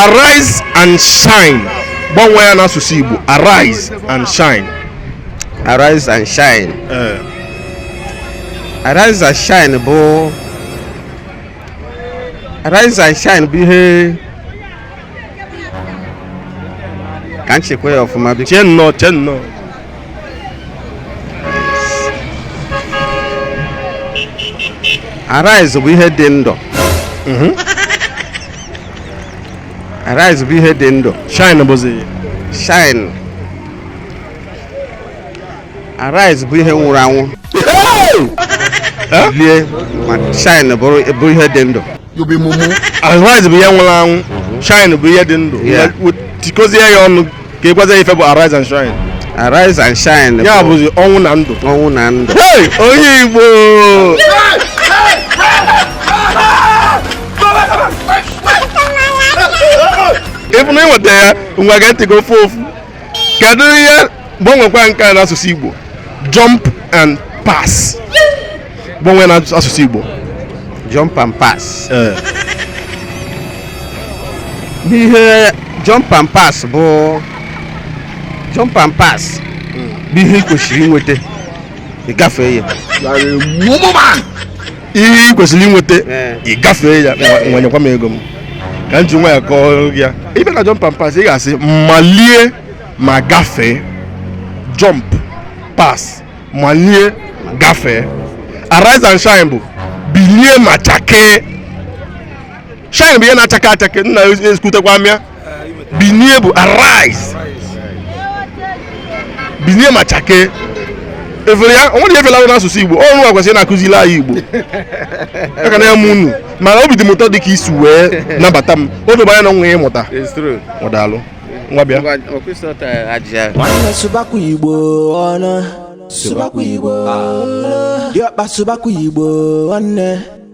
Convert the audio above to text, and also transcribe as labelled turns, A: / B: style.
A: arise and shine gbanwee ya n'asụsụ Igbo arise and shine arise
B: and shine eh. arise and shine bụ arise and shine bụ ihe ka m chekwaa ya ọfụma biko chee nnọọ chee nnọọ arise bụ ihe dị ndụ mhm. arise bụ ihe dị ndụ shine bụzi
A: shine
B: arise bụ ihe nwụrụ anwụ lie ma shine bụrụ ihe dị ndụ
A: Arise bụ ihe nwụrụ anwụ shine bụ ihe dị ndụ tikozie ya ọnụ ka ị gwazie ya ife bụ arise and shine arise and
B: shine ya bụzi ọnwụ na
A: ndụ ọnwụ na ndụ
B: onye
A: Igbo ịbụ na ị nweta ya ngwa ga-etigo ofu ofu kedu ihe gbanwekwa nke a n'asụsụ Igbo jump and pass gbanwee n'asụsụ Igbo jump and
B: pass eh. ihe jump and pass bụ jump and pass bụ ihe ị kwesịrị inweta ị gafee ya
A: ihe ị kwesịrị inweta eh. ị gafee ya wenyekwa m ego m ka m ji nwayọ kọọ ya ibe na jump and pass ị ga-asị malie ma gafee jump pass malie gafee arise and shine bụ bilie ma chakee shine bụ ihe na-achake achake nna ezukutekwa mịa binie bụ arise binie ma chake ị fụrụ ya onwere efela ahụ n'asụsụ igbo unu kwesịrị na-akụziri anyị igbo aka na ya mụ unu mana obi dị m ụtọ dị ka i si wee nabata m o dobe anya na nwa ya ịmụta o daalụ nwa bịa
C: nwanne sụbakwa igbo ọnụ sụbakwa igbo ọnụ diọkpa sụbakwa igbo nwanne